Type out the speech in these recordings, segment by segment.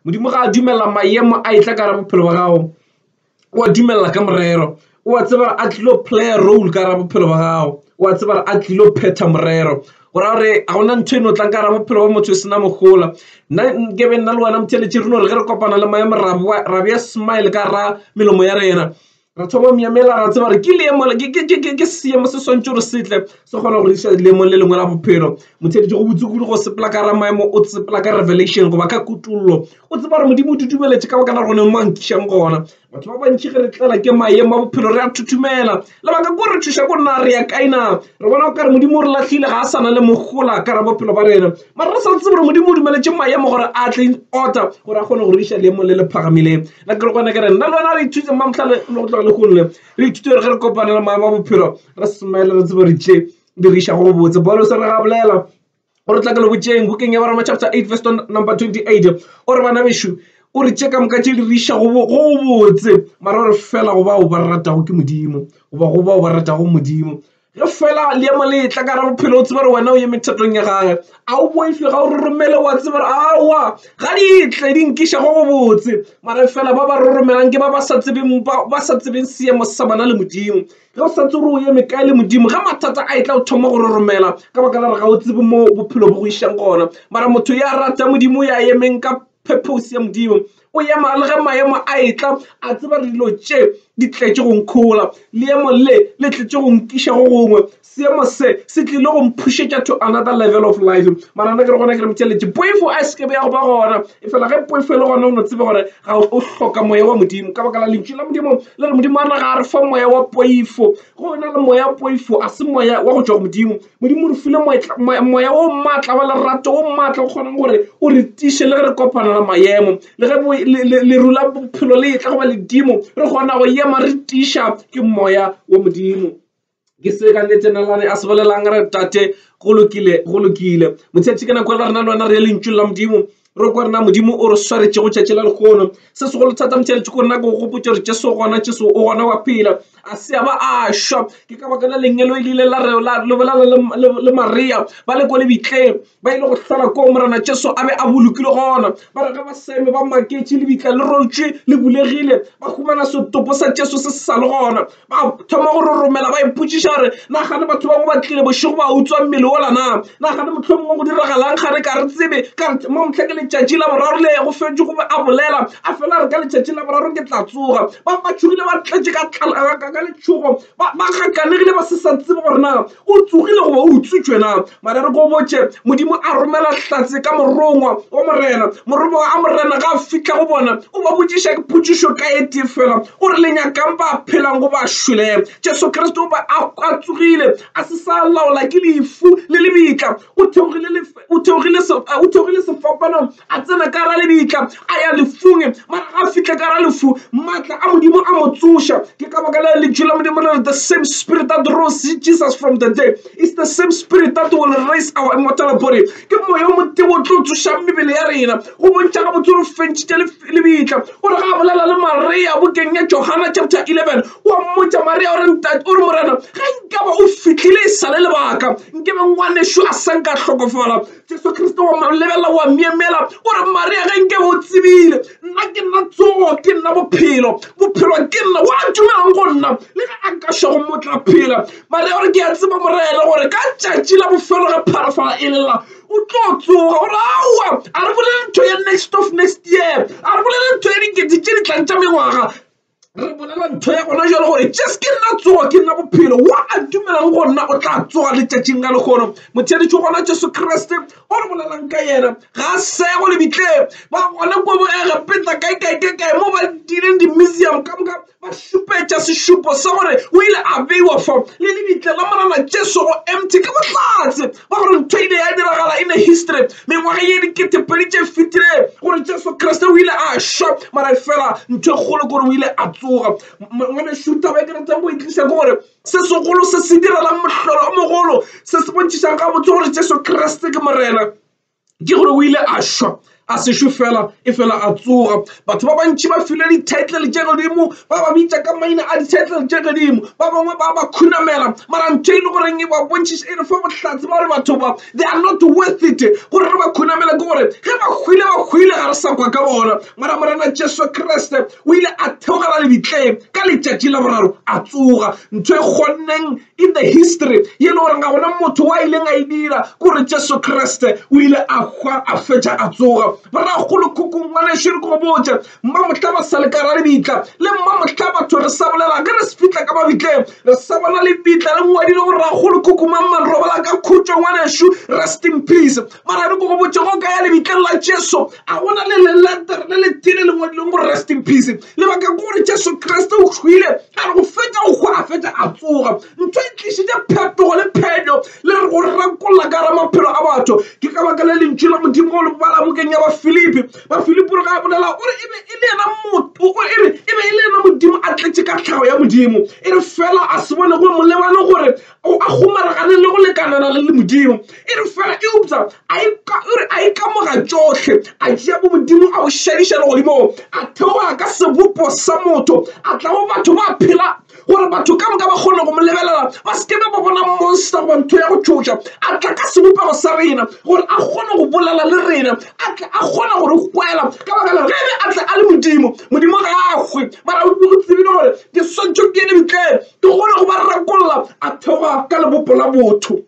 modimo ga a dumela maemo a e tla ka ra bophelo ba gago o a dumela ka morero o a tseba a tlilo playa role ka ra bophelo ba gago o a tseba a tlilo phetha morero go ra gore ga gona ntho e no tlang ka ra bophelo ba motho e sena mogola nna ke be nna le wena motheletše re no re ge re kopana le maemo rabeya smile ka ra melomo ya rena Re thoma myemela ra tseba gore ke leemo ke seemo se swantse gore setle se kgona go isa leemong le lengwe la bophelo motheletše go botse kudu go sepela ka ra maemo o tsepela ka revelation goba ka kutollo o tseba gore modimo o dudumeletše ka bakana gone mo nkišang gona batho ba bantši ge re tlela ke maemo a bophelo re a thuthumela lebaka ko re thuša ko nna re ya kaina re bona o kare modimo o re latlhile ga a sana le mogola ka ra bophelo ba rena mara re sa tsebe gore modimo o dumeletše maemo gore a tle order gore a kgone go re isa leemong le le phagamileng na ke kgona ke re nna lona re ithute ma motlhale le go tloga le gonne re ithute gore ge re kopane le maemo a bophelo re smile re tsebo re tše diriša go botse bolo se re ga bolela o re tla ke le botšeng bukeng ya baroma chapter 8 verse number 28 o re bana bešo o re tše ka moka tše diriša go botse mara o re fela go bao ba ratago ke modimo goba go bao ba ratago modimo Ge fela leemo le etla ka gare ga bophelo o tsebe gore wena o eme thatong ya gagwe. A o boife ga o roromele wa tseba gore aowa ga di tle di nkiša go gobotse. Mara e fela ba ba roromelang ke ba ba sa tsebeng ba sa tsebeng seemo sa bana le Modimo. Ge o sa tse gore o eme kae le Modimo ge mathata a etla o thoma go roromela ka baka la gore ga o tsebe mo bophelo bo go išang gona. Mara motho ya rata Modimo ya emeng ka Purpose ya Modimo o ya mara le ge maemo a etla a tseba re dilo tše di tletše go nkhola leemo le le tletše go nkiša go gongwe seemo se se tlile go mphušetša to another level of life mara nna ke re gona ke re motšheletše poifo a seke be ya go ba gona e fela ge poifo e le gona o no tsebe gore ga o hloka moya wa modimo ka baka la lentšu la modimo le re modimo a re ga a re fa moya wa poifo go na le moya wa poifo a se moya wa go tšwa go modimo Modimo o re file moya o maatla wa lerato o maatla o kgonang gore o re tiše le ge re kopana le maemo le ge leru la bophelo le etla goba ledimo re kgona go ema re tiša ke moya wa modimo ke se ka le tsenelane a se bolelang re tate go lokile go lokile motšhetši ke nako e le rena le wena re ye lentšu la modimo re kwa rena modimo o re swaretšego tšatši la lekgono se segolo thata motšheletše ko rena ke go gopotša gore jesu gona jesu o gona wa phela a se a ba a šwa ke ka baka la lengelo e le ile la lebolala le maria ba le ko lebitleng ba ile go hlola koo morena jesu a be a bolokile gona ba re ge ba seme ba maketše lebitla le rotšwe le bulegile ba humana setopo sa jesu se se sa le gona Ba thoma go roromela ba ipotšiša gore na gane batho bangwe ba tlile bošego ba utswa mmele ola na na gane motlho mongwe go diragalang ga re ka re tsebe ka re mo motlha ke letšatši la boraro le go fetše gobe a bolela a fela re ka letšatšing la boraro ke tla tsoga ba ba tšhogile ba tletše ka letšhogo ba gakanegile ba se sa tsebe gore na O tsogile goba o utswitšwe na? Mara re go botše, Modimo a romela hlatse ka morongwa wa morena. Morongwa a morena ga a fihla go bona, o ba botšiša potšišo ka e tee feela, o re, Le nyaka'ng, ba phelang goba ba šweleng? Jesu Kriste o be a tsogile, a se sa laola ke lefu le lebitla. o theogile lefe o theogile se o theogile sefapanong a tsena ka ra lebitla a ya lefung mara ga a fihle ka ra lefu matla a modimo a mo tsoša ke ka baka le lentšu la modimo le re the same spirit that rose jesus from the day is the same spirit that will raise our immortal body ke moya o motebo o tlo tsošang mebele ya rena go bontšha gabotse o re fentšitše lebitla o re ga a bolela le maria bokeng ya johana chapter 11 wa mmotsa maria ore ntate o re morena ga nkaba o fitlhile e sale lebaka nkebe ngwaneso a sa nka hlokofala jesu kriste wa lebelela wa miemela o re maria ge nkebe o tsebile nna ke nna tsogo ke nna bophelo bophelo ke nna wa dumelang go nna le ge a nka šwago motla phela maria ore ke a tseba morena gore ka tšatši la bofelo ge pharafala e lela o tlo tsoga gore aowa a re bolele ntho ya next of next year a re bolele ntho ya dikete tše di tlang tša mengwaga re bolela ntho ya gona jalo gore jes ke nna tsoga ke nna bophelo wa a dumelang go nna o tla tsoga letšatšing la lekgono motheletši gona jesu kriste o re bolelang ka yena ga a sego lebitleng ba gona ko bogege peta kae kae kae kae mo ba dileng di-museum ka moka Ba šupetša sešupo sa gore o ile a beiwa fo le lebitla la Morena Jesu go empty ka bohlatse ba gore ntho e ile ya diragala in a history mengwaga ye diketepedi tše fetile gore Jesu Kriste o ile a šwa mara fela ntho e kgolo gore o ile a tsoga. Ngwanešu taba e ke ratang go e tliša ke gore se segolo se se direlang mohlolo o mogolo se se bontšhišang gabotse gore Jesu Kriste ke Morena. ke gore o ile a šwa a sešo fela e fela a tsoga batho ba bantši ba filwe di-title tše godimo ba ba bitša ka maina a di-title tše godimo ba bangwe ba ba khunamela mara ntho e le goreng e ba bontšhiša e re fa bohlatse ba gore batho ba they are not worth it gore re ba khunamela ke gore ge ba hwile ba hwile ga re sa kwa ka bona mara morena jesu kriste o ile a theogela lebitleng ka letšatši la boraro a tsoga ntho e kgonneng in the history ye le goreng ga gona motho wa ileng a e dira kore jesu kriste o ile a hwa a fetša a tsoga boragolo khukung ngwaneso re ko botse mma mohla ba sa le ka ra lebitla le mma mohla batho re sa bolela ge re se fitlha ka mabitleng re sa bona lebitla le ngwadile boragolo khukumang manrobala ka khutšo ngwaneso rest in peace Mara re ko go botše go ka ya lebitleng la Jesu a gona le leletere le le tile le ngwadileng gore rest in peace lebaka ke gore Jesu Kriste o hwile a re go fetša go hwa a fetša a tsoga ntho e tlišitše phetogo le phenyo le re go rakolla ka ra maphelo a batho ke ka baka le lentšu la modimo go le bala bokeng ya bafilipi bafilipi re ga a bolela o re e be e le yena motho e re e be e le yena modimo a tletše ka tlhago ya modimo e re fela a se bone go molebane gore o a kgomaragane le go lekanana le le modimo e re fela eupsa a e kamoga tsotlhe a tšea bo modimo a o šediša le godimong a theoga ka sebopo sa motho a tla mo batho ba phela gore batho ka moka ba kgone go mo lebelela ba se ke ba ba bona monster goba ntho ya go tšhoša a tla ka sebopego sa rena gore a kgone go bolela le rena a tla a kgona gore kwela ka baka la ge a tla a le modimo modimo ga a hwe mara o tsebile gore ke swantšho ke ene bitleng ke kgone go ba rakolla a theoga ka lebopo la botho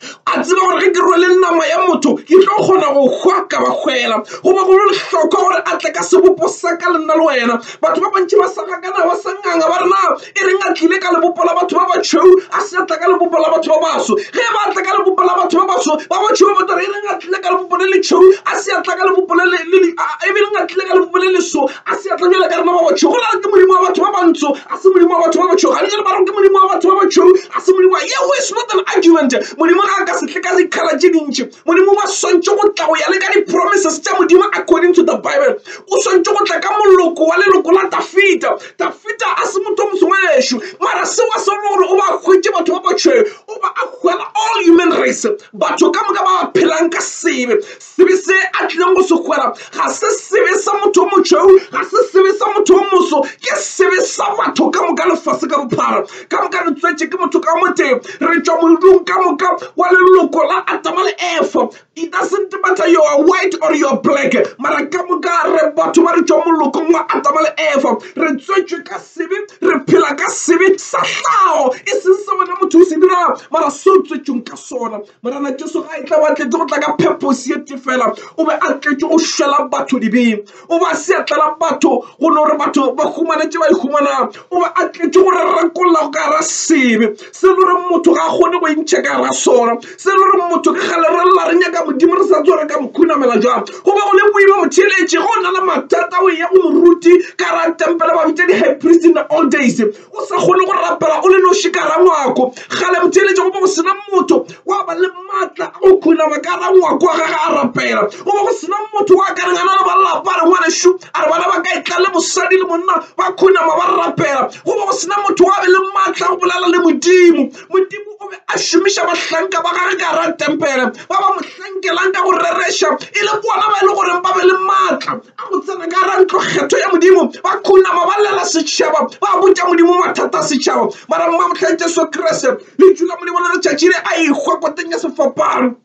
a tseba gore ge ke rwele nama ya motho ke tlo kgona go hwa ka ba hwela goba go le lehlokwa gore a tle ka sebopo sa ka le nna le wena batho ba bantši ba sagakana ba sa nganga ba rena e reng a tlile ka lebopo la batho ba batšhweu a se tla ka lebopo la batho ba baso ge ba tla ka lebopo la batho ba baso ba batšhweu ba tla e reng a tlile ka lebopo le letšhweu a se tla ka lebopo le e reng a tlile ka lebopo le leso A se atlanyela ka rena ba batšhweu, gona re ke Modimo wa batho ba bantsho, a se Modimo wa batho ba batšhweu. Ga bjale ba re ke Modimo wa batho ba batšhweu, a se Modimo wa. Yeo is not an argument. Modimo ga a ka se tle ka dikgala tše dintši. Modimo wa swantše go tla go ya le ka di-promises tša Modimo according to the Bible. O swantše go tla ka moloko wa leloko la Dafida. Dafida a se motho o mosongwe gešo, mara seo a se rone gore o ba hwetše batho ba batšhweu, o ba a hwela all human race, batho ka moka ba ba phelang ka sebe. sebe se a tlileng go se kgwera ga se sebe sa motho o motšhweu ga se sebe sa motho o moso ke sebe sa batho ka moka lefase ka bophara ka moka re tswetše ke motho ka motee re tšwa moldung ka moka wa leloko la atama le efa it doesn't matter you are white or you are black mara ka moka re batho ba re tšwa molokong wa atama le efa re tswetšwe ka sebe re phela ka sebe sa hlago e seng se wena motho o se dirago mara se o tswetšweng ka sona Morena Jesu ga a etla, o atletše go tla ka pheposi ye tee fela. O be a tletše go šwela batho dibe. O be a seatla la batho go no gore batho ba humane tše ba di humanago. O be a tletše go re rakolla go ka ra sebe, se le gore motho ga a kgone go intšha ka ra sona, se le gore motho ka gale re lla re nyaka Modimo re sa tse gore ka mo khunamela jang. Go be go le boima motheeletše ge o na le mathata o eya go moruti ka ra tempele ba bitša di-high priest in the old days. O sa kgone go rapela o le noši ka rangwako. Kgale botheeletša go be go sena motho wa ba le matla a go khunama ka rangwako wa gage a rapela. Go be go sena motho wa ka reng a na le balapa a re ngwanešu a re bana ba ka etla le mosadi le monna ba khunama ba rapela. Go be go sena motho wa be le matla a go bolela le Modimo. Modimo o be a šomiša bahlanka ba gage ka gara tempele ba ba mo hlankelang ka go rereša e le bona ba e le goreng ba be le maatla a go tsena ka gara ntlo kgetho ya modimo ba khunama ba lela setšhaba ba botša modimo mathata a setšhaba mara mmamotlhang jesu kriste le tšula molemo le letšatši le a ikgwa koteng ya sefapano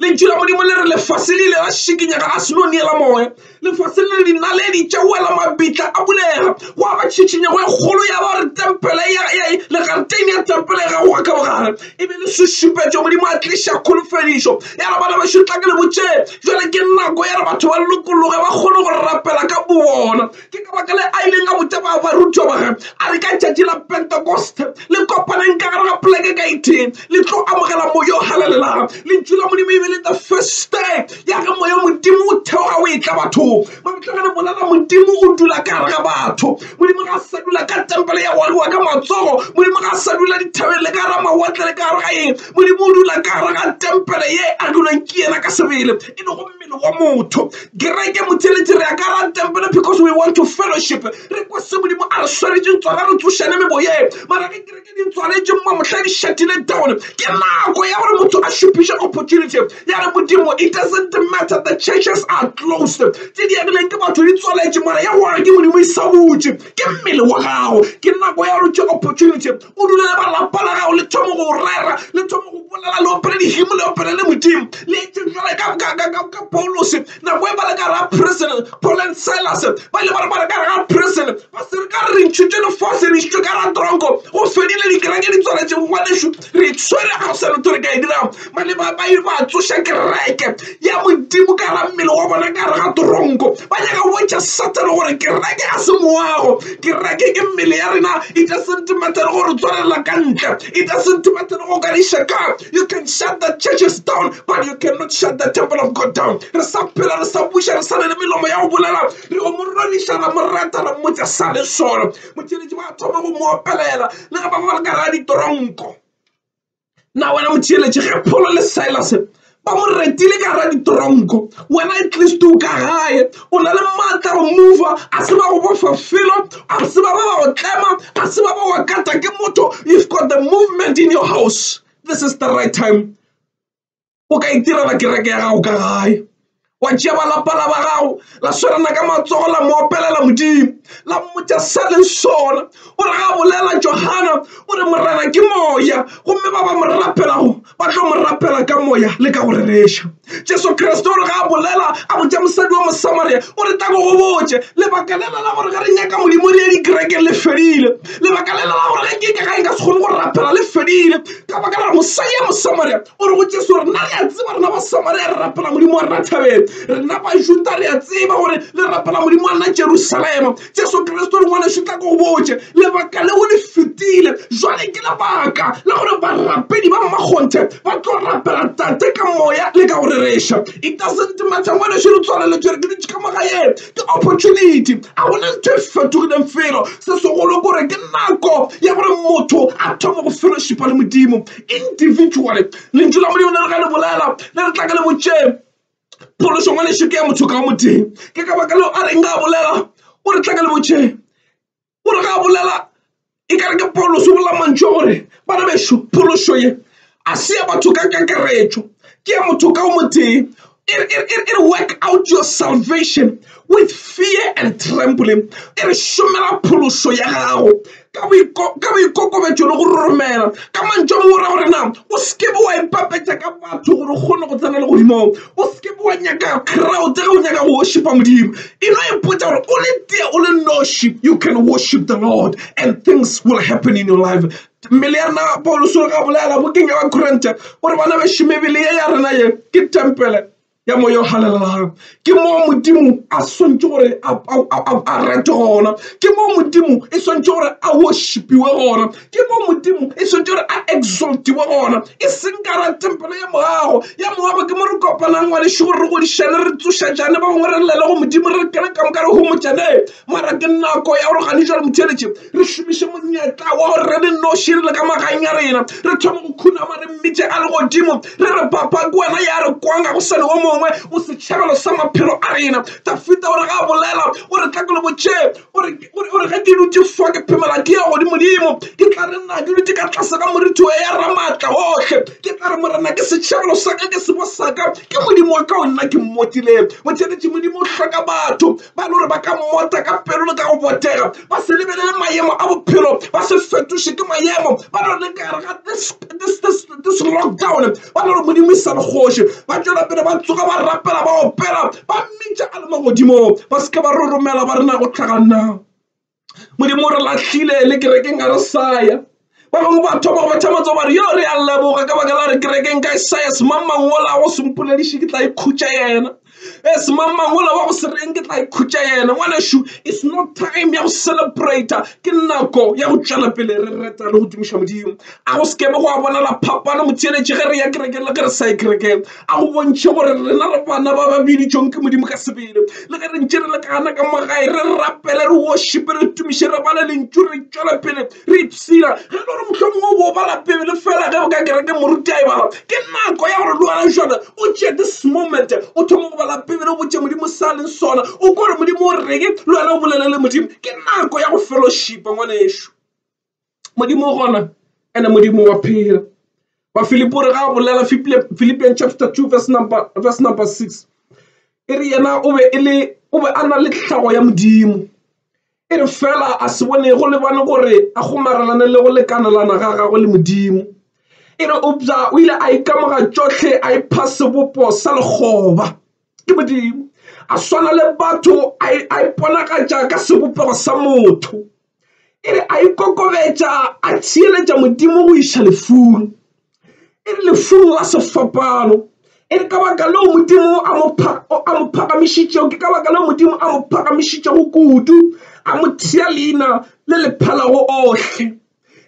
lentšu la modimo le re lefase le ile la šikinyega a seno neela moya lefase le dinaledi tša wela mabitla a bulega gwa ba tšhitšhinyego e kgolo ya ba re tempele legareteni ya tempele ya gago ga ka bogare e be le sešupetšo modimo a tliša kholofedišo ya re bana bašotla ke le botšee jale ke nako ya re batho ba lokologe ba kgone go rapela ka bobona Ke ka baka le a ileng a botša ba barutiwa ba gagwe, a re, Ka letšatši la Pentekoste le kopaneng ka gare ga poleke ka e tee, le tlo amogela Moya o Halalelang. Lentšu la Modimo e be e le the first day ya ge Moya o Modimo o theoga o etla bathong. Mamohla ge re bolela Modimo o dula ka gare ga batho, Modimo ga a sa dula ka tempele ya go agiwa ka matsogo, Modimo ga a sa dula dithabeng le ka gare ga mawatle le ka gare ga eng, Modimo o dula ka gare ga tempele ye e agilweng ke yena ka sebele, e lego pele go motho kereke motšheletše re akara tempele because we want to fellowship re kwa se modimo a re swaretšeng tsona re tsošane meboyeng mara ge kereke di tswaletšeng mo mohla di šatile down ke nako ya gore motho a šupiše opportunity ya re modimo it doesn't matter the churches are closed tše di agileng ke batho di tswaletše mara ya gore ke modimo e sa butše ke mmele wa gago ke nako ya gore tše opportunity o dule le ba lapa la gago le thome go rera le thome go bolela le opele dihimo le opele le modimo le etse jale ka paulose nako e ba le ka ra prison paul and silas ba ile ba re ba re ka ra prison ba se re ka re ntšhutše lefase re išitšwe ka ra tronko go fedile dikereke di tswaletše ngwanešu re tshwere ga go sa letho re ka e dirago Malema ba ile ba tsoša kereke ya Modimo ka ra mmele wa bona ka re ga toronko ba nyaka go bontšha satane gore kereke a se moago kereke ke mmele ya rena it doesn't matter gore tswalela ka ntle it doesn't matter go ka diša ka you can shut the churches down but you cannot shut the temple of god down re sa phela re sa buša re sa ne le melomo ya go bolela re o mo rodiša ra mo rata ra mmotsa sa le solo motšheletši ba thoma go mo opelela le ge ba ba le ka ga ditoronko na wena motheeletše ge pholo le silas ba mo retile ka ra ditoronko wena at least o ka gae o na le maatla go mova a se ba go bofa felo a se ba ba ba go tlema a se ba ba wa kata ke motho you've got the movement in your house this is the right time o ka itirela kereke ya gago ka gae wa tšea ba lapa la ba gago la swerana ka matsogo la mo opelela modimo la mmotsa sa leng sona o re ga bolela johana o re morena ke moya gomme ba ba mo rapelago ba tlo mo rapela ka moya le ka go rereša jesu kriste o re ga a bolela a botsa mosadi wa mosamaria o re tako go botse lebaka lela la gore ge re nyaka modimo re ye dikerekeng le fedile lebaka lela la gore ge ke ka ga e ka se kgone go rapela le fedile ka baka la gore mosadi ya mosamaria o re go jesu gore nna re a tseba rena ba samaria re rapela modimo wa rena thabeng rena bajuta re a tseba gore le rapela modimo wa rena jerusalema jesu kriste o lengwane šutla ko go botse lebaka leo le fetile jwale ke lebaka la gore barapedi ba mmakgonthe ba tlo rapela tate ka moya le ka go rereša it doesn't matter ngwane šo re tswaleletšwe re ke ditše ka magaeng ke opportunity a gona ntho e fetogileng felo se segolo kore ke nako ya gore motho a thoma go fellowshipa le modimo individually lentšu la modimo le re ga le bolela le re tla ka le botšeng phološo ngwa lešo ke ya motho ka o motee ke ka baka leo a reng ga bolela o re tla ka le botšeng o re ga bolela e kare ke paulos o bolela mantšu a gore bana bešo phološo ye a se ya batho ka kakaretšo ke ya motho ka o motee e re, e re, e re, e re work out your salvation with fear and trembling e re šomela phološo ya gago ka boikokobetšo le go roromela ka mantšo a mora gore na o sekebe wa ipapetša ka batho gore o kgone go tsena le godimong o sekebe wa nyaka crowd ge o nyaka go worshipa modimo e no ipotsa gore o le tea o le noši you can worship the lord and things will happen in your life Mmele ya rena Pauluse o re gabolela bokeng ya Bakorinthe o re bana bešo mebele ye ya rena ye ke tempele ya moya o halelelago ke moo modimo a swantse gore a rete gona ke moo modimo e swantse gore a worshipiwe gona ke moo modimo e swantse gore a exaltiwe gona e seng kara tempele ya moago ya moago ke mo re kopanang ngwaneše gore re godišane re tsošetšane ba bangwe re llele go modimo re kene ka moka re homotšane Mara ke nako ya gore gane jwale botheletše re šomiše monyetla wa gore re le noši re le ka magaeng ya rena re thoma go khunama re mmitše a le godimo re re papa ke wena ya re kwanga go sane o mongwe o setšhabelo sa maphelo a rena dafita o re ga a bolela o re tla ke le botše o re ge ke dutše fa ke phemela ke ya godimodimo ke tla re nna ke dutše ka tlase ga moritho wa ya ramatla ohle ke tla re morena ke setšhabelo sa ka ke sebo sa ka ke modimo wa ka o nna ke mmotileng botheletše modimo o hloka batho ba e le gore ba ka mmota ka pelo le ka go botega ba se lebelele maemo a bophelo ba se fetoše ke maemo ba le gore kare ga this lockdown ba le gore modimo isa bogoši ba tšwela pele ba tsoga ba rapela ba opela ba mmitša a le magodimo ba se ke ba re romela ba rena go tlhaganna modimo o re lahlile le kerekeng a re saya ba bangwe ba thoma go betha matso bare yo re a leboga ka baka la re kerekeng ka e saya semangmangola go sempolediše ke tla ikhutša yena e eh, semangmangola wa go se reng ke tla ikhutša yena ngwanešu it's not time ya go celebrata ke nako ya go tšwela pele re reta le go tumiša modimo a go sekebe go a bonala phapano motheeletše ge re ya kerekeng le ge re sa ye kerekeng A go bontšhe gore rena re bana ba ba biditšweng ke Modimo ka sebele. Le ge re ntše re le ka gana ka mo gae, re rapele, re worshipe, re tumiše, re bale Lentšu, re tšwele pele re ipshina. Ge e le gore mohlomongwe o bo o bala Beibele feela ge o ka kerekeng moruti a e bala, ke nako ya gore le wena bjale o tšee this moment o thome go bala Beibele, o botše Modimo se a leng sona, o kwe gore Modimo o reng, le wena o bolelele Modimo. Ke nako ya go fellowshipa, ngwanešu. modimo o gona ene modimo wa phela ba filipo re ga bolela philippian chapter 2 verse number, verse number 6 e re yena o be e le o be a na le tlhago ya modimo e re fela a se bone go lebane gore a gomarelane le go lekanelana ga gagwe le modimo e re obja o ile a ikamoga tšohle a ipha sebopo sa lekgoba ke modimo a swana le batho a iponagatša ka sebopego sa motho e re a ikokobetša a theeletša modimo go iša lefung e re lefung la sefapano e re ka baka leo modimo a mo phagamišitšego ke ka baka leo modimo a mo phagamišitšego kudu a mo thea leina le le phalago ohle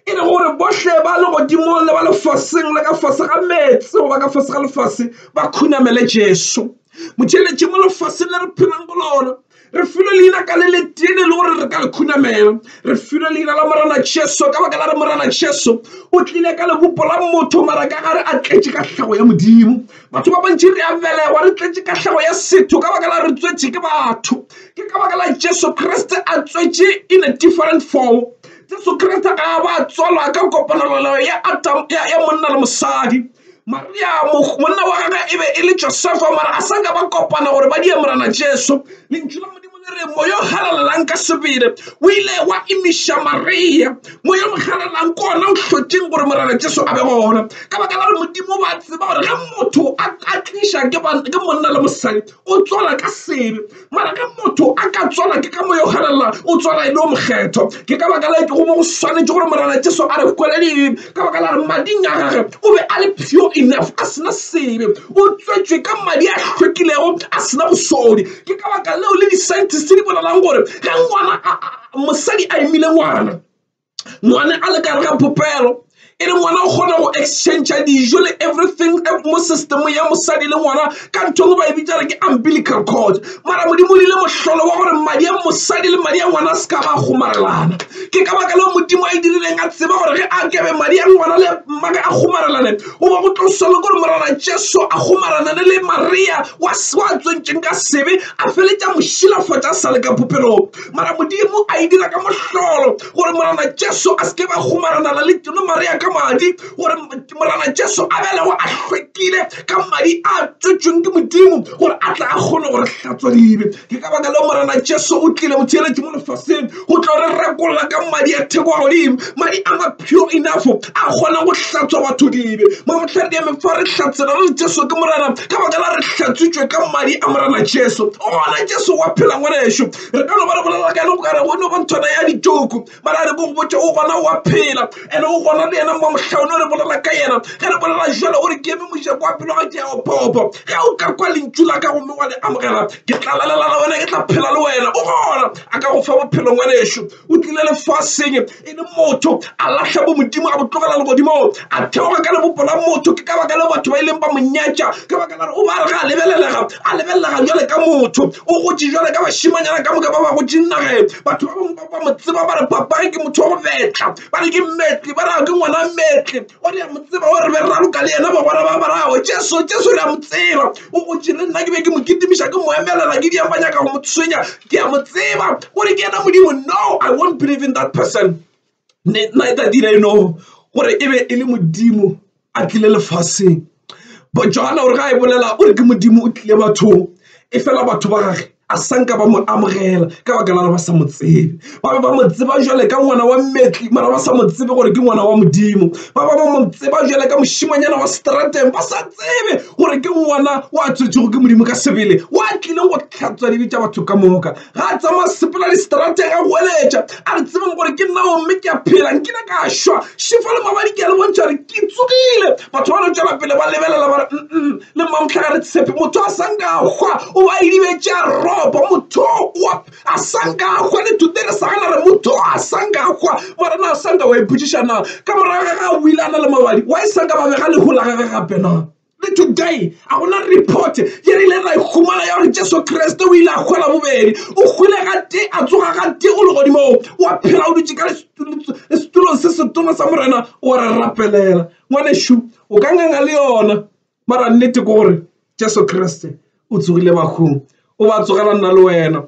e re gore bohle ba le godimo le ba lefaseng le ka fase ga meetse goba ka fase ga lefase ba khunamele jesu motšheletše mo lefaseng le re phelang go lona re filwe leina ka le letene le gore re ka le khunamela re filwe leina la morana jesu ka baka la re morana jesu o tlile ka lebopo la motho mara ka gare a tletše ka tlhago ya modimo batho ba bantši re a belegwa re tletše ka tlhago ya setho ka baka la re tswetše ke batho ke ka baka la jesu kriste a tswetše in a different form jesu kriste ga a ba tswalwa ka kopanelelo ya monna le mosadi Mariamo, monna wa gagwe e be e le Josefa, mara a sa ka ba kopana gore ba die Morena Jesu. Lentšu la Modimo le re, moya o galalelang ka sebele o ile wa imiša Maria. Moya o galalelang ke ona o hlotšeng gore Morena Jesu a be gona, ka baka la gore Modimo ba tseba gore ge motho a tliša ke monna le mosadi o tswala ka sebe. mara ge motho a ka tswala ke ka mo yo ganelela o tswala e le o mokgetho ke ka baka la ke go mo go swanetše gore morena jesu a re kweleleng ka baka la re mading a gage o be a le pure enough a sena sebe o tswetswe ka madi a hlwekilego a sena bosodi ke ka baka leo le di-scientist di bolelang gore ge ngwana mosadi a emile ngwana ngwane a le kare ga popelo e le ngwana o kgona go exchange dijo le everything mo system ya mosadi le ngwana ka nthong ba e bitsa re ke umbilical cord mara modimo o dile mohlolo wa gore madi a mosadi le madi a ngwana a se ka ba kgomarelana ke ka baka leo modimo a e dirileng a tseba gore ge a kebe madi a ngwana le mmaka a kgomarelane o ba go tlo solo gore morana jesu a kgomaranane le maria wa tsentsweng ka sebe a feletša mošilafatša a sa le ka popelong mara modimo a e dira ka mohlolo gore morana jesu a seke ba gomaranala le teno maria ka madi gore morana jesu a belego a hlwekile ka madi a tswetsweng ke modimo gore a tla a kgone gore hlatswa dibe ke ka baka leo morana jesu o tlile motheeletše mo lefaseng go tlo re rekolla ka madi a theko a godimo Madi a ma pure enough a kgona go hlatswa batho dibe. Mamohladi ya mefa re hlatsela re Jesu ke Morena ka baka la re hlatswitšwe ka madi a Morena Jesu. O gona Jesu wa phela ngwanešu. Re ka no ba re bolela ka ene go ka re go no ba nthwana ya ditšoku. Mara re ko go botša o gona wa phela and o gona le yena mamohla o no re bolela ka yena. Ge re bolela jalo o re ke eme mojako wa pelo ga ke ya opopo. Ge o ka kwa lentšu la ka gomme wa le amogela ke tla lalela le wena ke tla phela le wena. O gona a ka go fa bophelo ngwanešu. o tlile lefaseng e le motho a lahla bo modimo a botlogela legodimo a theoga ka lebopo la motho ke ka baka le batho ba e leng ba monyetša ka baka la re o ba re ga a lebelelega a lebelelega jale ka motho o gotse jale ka bašimanyana ka moka ba ba gotse nageng batho ba bangwe ba ba mo tseba ba re papage ke motho wa go betla ba re ke metle ba re ke ngwana metle O re a mo tseba o re be raloka le yena bagwera ba barago jesu jesu re a mo tseba o gotši le nna ke be ke mo kitimiša ke mo emelela ke diang ba nyaka go mo tshwenya ke a mo tseba o re ke yena modimo no i won't believe in that person neither did i know gore e be e le modimo a tlile lefaseng Johana o re ga e bolela o re ke modimo o tlile bathong e fela batho ba gage a sanka ba mo amogela ka baka la re ba sa mo tsebe ba be ba mo tseba jale ka ngwana wa mmetli mara ba sa mo tsebe gore ke ngwana wa modimo ba ba ba mo tseba jale ka mošimanyana wa strateng ba sa tsebe gore ke ngwana wa tswetšego ke modimo ka sebele wa tlileng go tlhatswa dibe tša batho ka moka ga a tsamaya sepela distraateng a goeletša a re tsebang gore ke nna omme ke a phela nkile ka šwa šefo le mabadi ke a le bontšha gore ke tsogile batho ba no tšwela pele ba lebelela ba re mm le mmamotlha ga re tshepe motho a sanka a hwa o ba idibetše a ropa motho wa a sanka a hwa le thute re sa gana re motho a sanka a hwa morena a sanka wa ipotšiša na ka morago ga ga o ile a na le mabadi wa e sanka ba bega lehola ga ga gape na Le today a go na report ye re ile ra e humana ya gore Jesu Kriste o ile a hwela bobedi. O hwile ga te a tsoga ga te o legodimong, wa phela o dutše ka setulong se setona sa Morena o re rapelela. Ngwanešu o ka nganga le yona, mara nnete ke gore Jesu Kriste o tsogile bahung, o ba tsogela nna le wena.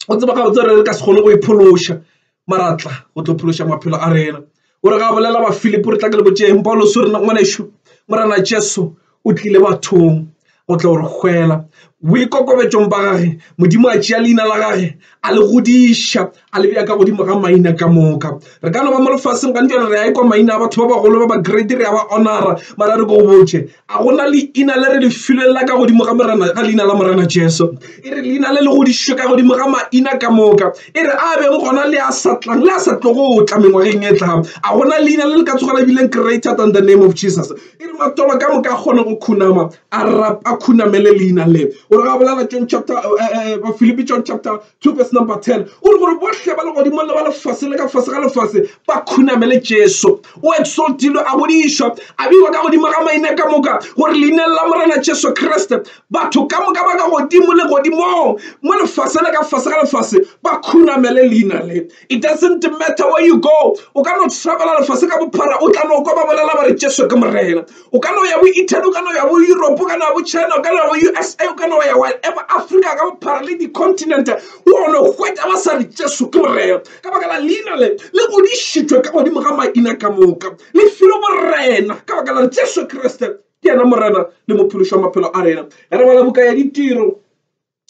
o tseba gabotse gore re ka se kgone go iphološa maratla go tlo phološa maphelo a rena o re ga bolela ba philip o re tla ke le botšeng pauloso rena ngwanešo morana jesu o tlile bathong go tla gore hwela boikokobetsong ba gage modimo a tšea leina la gage a le godiša a lebja ka godimo ga maina ka moka re ka no ba mo lefaseng gantšane re ya e kwa maina a batho ba bagolo ba ba grade re ya ba honora mara re ko go botse a gona leina le re le filweng la ka godimo ga morena ga leina la morena jesu e re leina le le godišwe ka godimo ga maina ka moka e re a beng gona le a sa tlang le a sa tlogo o tla mengwageng e tlang a gona leina le le ka tsoga le bileng greater than the name of jesus e re matolo ka moka a kgone go khunama a rapa khunamele leina le o re ga bolela john chapter eh, eh, eh, ba philippi john chapter 2 verse number 10 o re gore bohle ba le godimo le ba lefase le ka fase ga lefase ba khunamele jesu o exaltilwe a godišwa a beiwa ka godimo ga maina ka moka gore leineng la morena jesu kriste batho ka moka ba ka godimo le godimong mo lefase le ka fase ga lefase ba khunamele leina le It doesn't matter where you go, o ka no travela lefase ka bophara o tla no kwa ba bolela ba re Jesu ke Morena. O ka no ya bo Italy, o ka no ya bo Europe, o ka no ya bo China, o ka no ya bo USA, o ka no ya wherever Africa ka bophara le di-continent, o no hwetša ba sa re Jesu ke Morena ka baka la leina le le godišitšwe ka godimo ga maina ka moka. Le filwe borena ka baka la Jesu Kriste ke yena Morena le Mophološi wa maphelo a rena. Ge re bala buka ya Ditiro,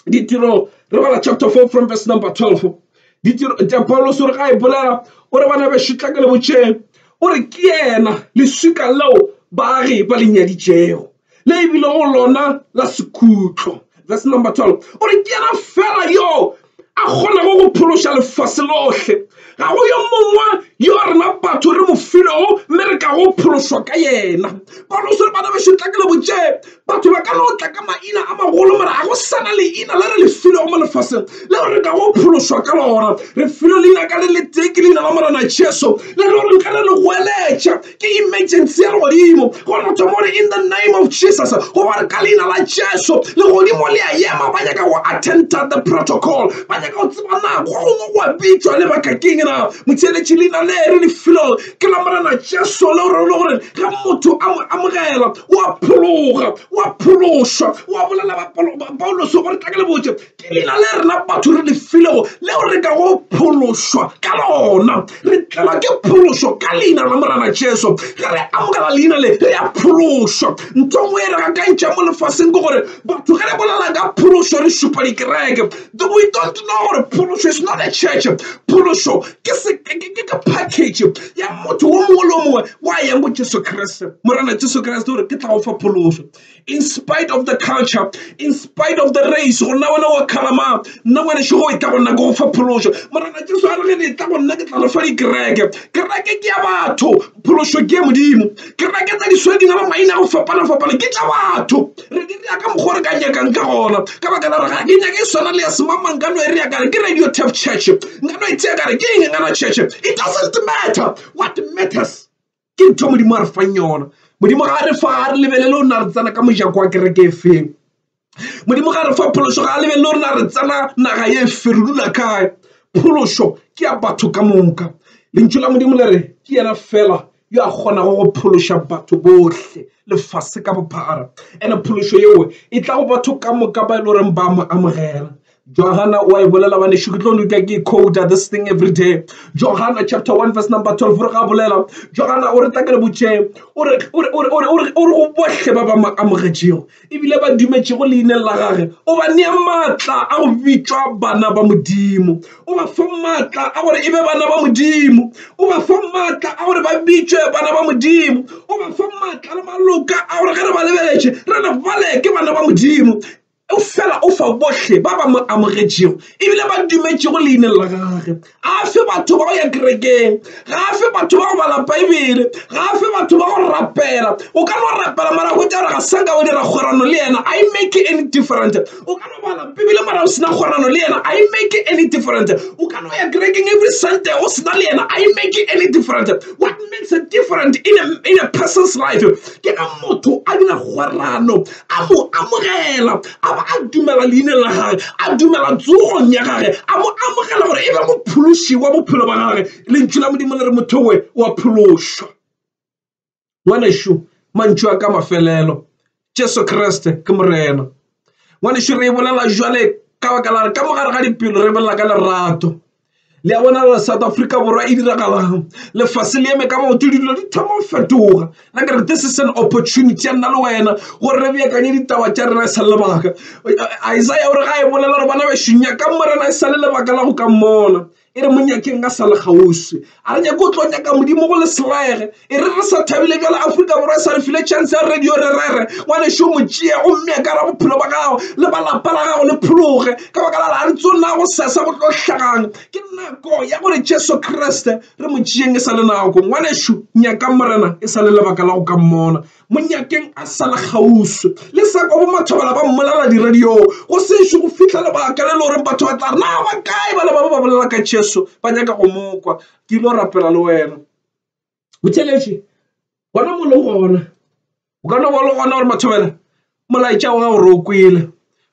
ditiro re bala chapter 4 from verse number 12 ditiro tša paulos o re ga e bolela o re bana bešutla ke le botšeng o re ke yena leswika leo baagi ba le nyaditšego le ebile go lona la sekhutlo verse number 12 o re ke yena fela yo a kgonago go phološa lefase lohle Ga go yo mongwe yo rena batho re mo filego mme re ka go phološwa ka yena. Pauloso le bana bešo tla ke le botše batho ba ka no tla ka maina a magolo mara ga go sana leina le re le filego mo lefaseng leo re ka go phološwa ka lona. Re filo leina ka le le tee ke leina la Morena Jesu le le gore nka re le goeletša Ke emergency ya legodimo gore motho mo re in the name of jesus goba re ka leina la jesu legodimo le a yema ba nyaka go attenta the protocol ba nyaka go tseba na gongwe go a bitšwa le bakakeng na motheeletši leina le re lefelong ke la morena jesu le gore le gore ge motho a mo amogela o a phologa o a phološwa o a bolela pauloso gore tla ke le botse Ke leina le rena batho re le filego leo re kago phološwa ka lona. Re tlelwa ke phološo ka leina la Morena Jesu. Ge re amogela leina le re ya phološwa. Ntho nngwe e re gakantšha mo lefaseng ke gore batho ge re bolela ka phološo re šupa dikereke. We don't know gore phološo is not a church. Phološo ke ke package ya motho o mongwe le o mongwe wa yang go Jesu Kriste, Morena Jesu Kriste o re ke tla go fa phološo. in spite of the culture in spite of the race go nna wena wa kgalama nna ngwaneso go e tla go nna ke go fa phološo morena jesu a re ge ne e tla go nna ke tla re fa dikereke kereke ke ya batho phološo ke ya modimo kereke tsa disweding ba maina go fapana-fapana ke tša batho re di reya ka mokgwa re ka nyakang ka gona ka baka la re ga ke nyake e swana le ya semamang ka no e reya kare ke radio tap church nka no e tseya kare ke eng ngana church it doesn't matter what matters ke ntho modimo a re fang yona modimo ga a re fa ga re lebelele o na re tsena ka mojako wa kereke e feng modimo ga re fa phološo ga a lebelele o rena re tsena naga ye e fe re dula kae phološo ke ya batho ka moka lentšu la modimo le re ke yena fela yo a kgonago go phološa batho bohle lefase ka bophara ene phološo yeo e tla go batho ka moka ba e le goreng ba mo amogela Johana wa e bolela banešu ke tlo lutla ke quota this thing every day Johana chapter 1 verse number 12 re ga bolela Johana o re tla ke le botšeng o re go bohle ba ba mo amogetšego ebile ba dumetšego leineng la gage o ba nea maatla a go bitšwa bana ba modimo o ba fa maatla a gore e be bana ba modimo o ba fa maatla a gore ba bitšwe bana ba modimo o ba fa maatla le maloka a gore ge re ba lebeletše re re bale ke bana ba modimo Eupfela o fa bohle ba ba mo amogetšego e bile ba dumetšego leineng la gage. Ga a fe batho ba go ya kerekeng, ga a fe batho ba go bala Beibele, ga a fe batho ba go rapela. O ka no rapela mara hwetša gore ga sa ka wa dira kgwerano le yena. I make any different. O ka no bala Beibele mara o se na kgwerano le yena. I make any different. O ka no ya kerekeng every Sunday o se na le yena. I make any different. What makes a different in a, in a person's life ke ge motho a dira kgwerano a mo amogela, a ba a dumela leineng la gage, a dumela tsogong ya gage, a mo amogela gore e be mophološi wa bophelo ba gage lentšu la modimo le re motho we wa phološwa ngwanešu mantšu a ka mafelelo jesu kriste ke morena ngwanešu re e bolela jwale ka baka la re ka mogare ga dipelo re bolela ka lerato le ya bona le south africa borwa e diragalang lefase le eme ka maoto dilo di thoma go fetoga la kere this is an opportunity ya nna le wena gore re beakanye ditaba tša rena e sa le lebaka isaya o re ga e bolela gore bana bešonya ka morena e sa le lebaka la go ka mmona e re monyakeng ka sa le kgauswi A re nyake go tlo nyaka Modimo go le serege. E re re sa thabile bjale Afrika Borwa e sa re file chance ya radio re rere ngwanešu mo tšea go mmea ka ra bophelo ba gago le ba lapa la gago le phologe ka baka la a re tso na go sesa go tlo hlagang ke nako ya gore Jesu Kriste re mo tšeeng e sa le nako ngwanešu nyaka morena e sa le lebaka la go ka mmona Monyakeng a sa le kgauswi le sa kwa bomathabela ba mmolela diradiong go sešo go fihla lebaka le le goreng batho ba tla re na ba kae bale ba ba ba bolela ka Jesu ba nyaka go mokwa ke ile go rapela le wena botheletše gona mo le gona o ka no ba le gona gore mathabela molaetša wa gago re o kwele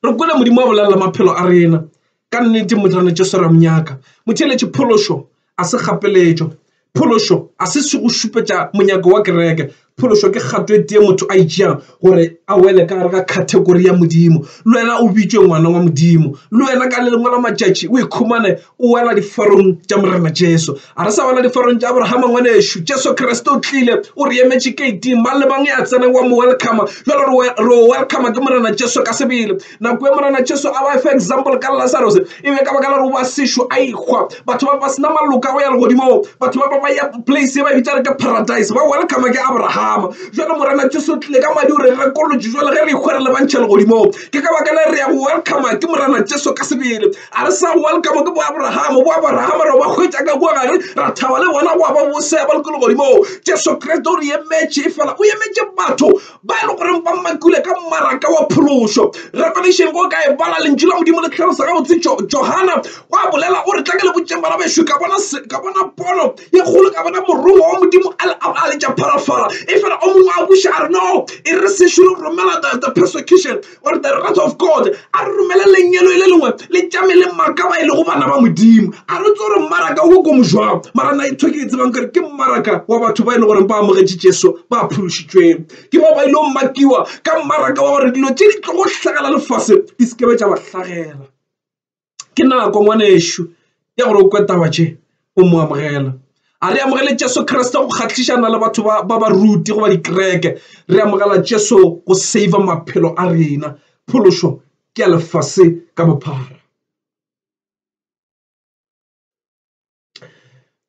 re kwele modimo wa bolelela maphelo a rena ka nnete motlane tšo swera monyaka motheletše phološo a se gapeletšo phološo a se se go šupetša monyako wa kereke phološo ke kgato e tee motho a itšeang gore a wele ka gare ga category ya modimo le wena o bitšwe ngwana wa modimo le wena ka le lengwe la matšatši o ikhumane o wela diforong tša morena jesu a re sa wela diforong tša abrahama ngwanešu jesu kriste o tlile o re emetše kate mang le mang ya tseneng wa mo welcome jalo re o welcome ke morena jesu ka sebele nako e morena jesu a ba fa example ka lazarus e be ka baka la gore ba sešo a ikgwa batho ba ba sena maloka go ya legodimong batho ba ba ba ya place e ba bitsa re ke paradise ba welcome ke abrahama jalo morena jesu o tlile ka madi o re rekolotše jalo ge re ikgwa re lebantšha legodimong ke ka baka la re ya go welcome ke morena jesu ka sebele A re sa welcome ke bo Abraham, bo Abraham re ba hwetša ka kua gare ra thaba le bona gwa ba bosea ba lekolo godimo. Jesu Kriste o re emetše fela, o emetše batho ba e le goreng ba makile ka mmaraka wa phološo. Revelation go ka e bala lentšu la Modimo le tlhalosa gabotse. Johana wa bolela o re tla ke le botšeng bana bešo, ka bona ka bona pono ye kgolo, ka bona morongwa wa Modimo a letša pharafara. E fela o mongwe a buša a re no, e re se šoro romela the persecution or the wrath of god a re romele lenyelo e le lengwe le tšame le marka ba e lego bana ba modimo a re tse gore mmaraka o ko mojwang mara na itho e ke e tsebang kore ke mmaraka wa batho ba e le goreng ba amogetše jesu ba phološitšweng ke bao ba ile go makiwa ka mmaraka wa gore dilo tše di tlogo hlagela lefase di sekebe tša ba hlagela ke nako ngwanešu ya gore o kwe taba tše o mo amogela a re amogele jesu kriste go kgatlhišana le batho ba ba ruti goba dikereke re amogela jesu go save maphelo a rena phološo ke ya lefase ka bophara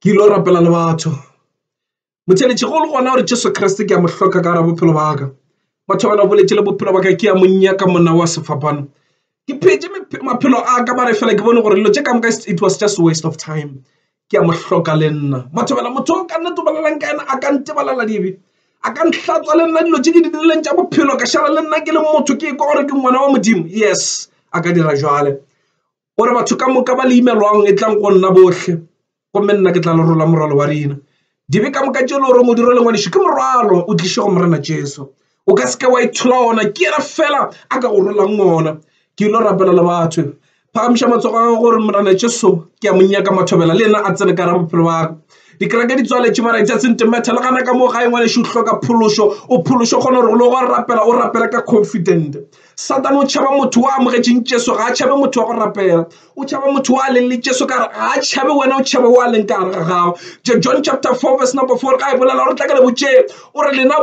ke ile go rapela le batho motheletši golo gona gore jesu kriste ke a mo hloka ka gara bophelo ba ka batho ba na boletše le bophelo ba ka ke ya monnya ka monna wa sefapano ke phetse maphelo a ka ba re fela ke bone gore dilo tše ka moka it was just waste of time ke a mo hloka le nna batho bela motho o ka nna tobalelang ka ena a ka ntebalela dibe a ka ntlhatswa le nna dilo tše ke di dirileng tša bophelo ka šala le nna ke le motho ke kwa gore ke ngwana wa modimo yes a ka dira jale gore batho ka moka ba le imelwang e tlang go nna bohle gomme nna ke tla le rola morwalo wa rena dibe ka moka tšelo gore modiro le ngwadišo ke morwalo o tliše go morena jesu o ka seke wa ithola ona ke yena fela a ka go rolang ona ke ile rapela le batho phagamiša matsogo a gore morena jesu ke a monyaka mathobela le ena a tsene ka ra bophelo ba dikereke di tswaletše mara it doesn't matter le gana ka moo ga e ngwaneše o hloka phološo o phološo kgona gore o le go rapela o rapela ka confident Satane o tšhaba motho wa amogetšeng Jesu ga a tšhabe motho wa go rapela o tšhaba motho wa leng le Jesu kare ga a tšhabe wena o tšhaba wa leng ka gare ga gago John chapter 4 verse number 4 ga e bolela gore tla ka le botše o re lena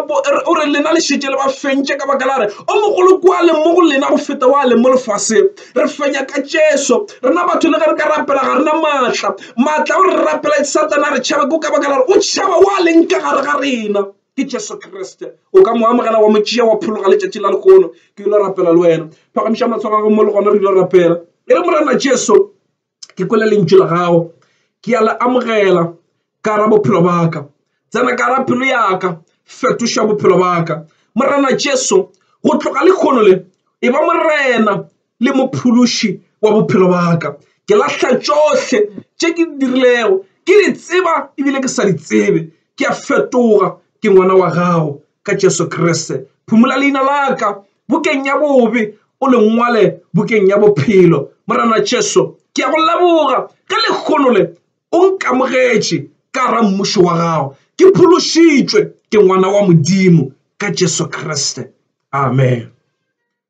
o re lena le šetše le ba fentše ka baka la re o mogolo kwa leng mo go lena go feta wa leng mo lefase re fenya ka Jesu rena batho le ge re ka rapela ga rena maatla maatla o re rapela satana re tšhaba ko ka baka la re o tšhaba wa leng ka gare ga rena ke jesu kriste o ka mo amogela wa mo tšea wa phologa letšatši la lehono ke ile rapela le wena phagamiša matshwaro gago mo le gona re ile rapela e re morena jesu ke kwele lentšu la gago ke ya le amogela ka ra bophelo baka tsena ka ra pelo yaka fetoša bophelo baka morena jesu go tloga lekgono le e ba morena le mophološi wa bophelo baka ke lahla tšohle tše ke di dirilego ke di tseba ebile ke sa di tsebe ke a fetoga ke ngwana wa gago ka jesu kriste phumola leina laka bokeng ya bobe o lengwale bokeng ya bophelo morana jesu ke a go leboga ka lekgono le o nkamogetše ka ra mmušo wa gago ke phološitšwe ke ngwana wa modimo ka jesu kriste amen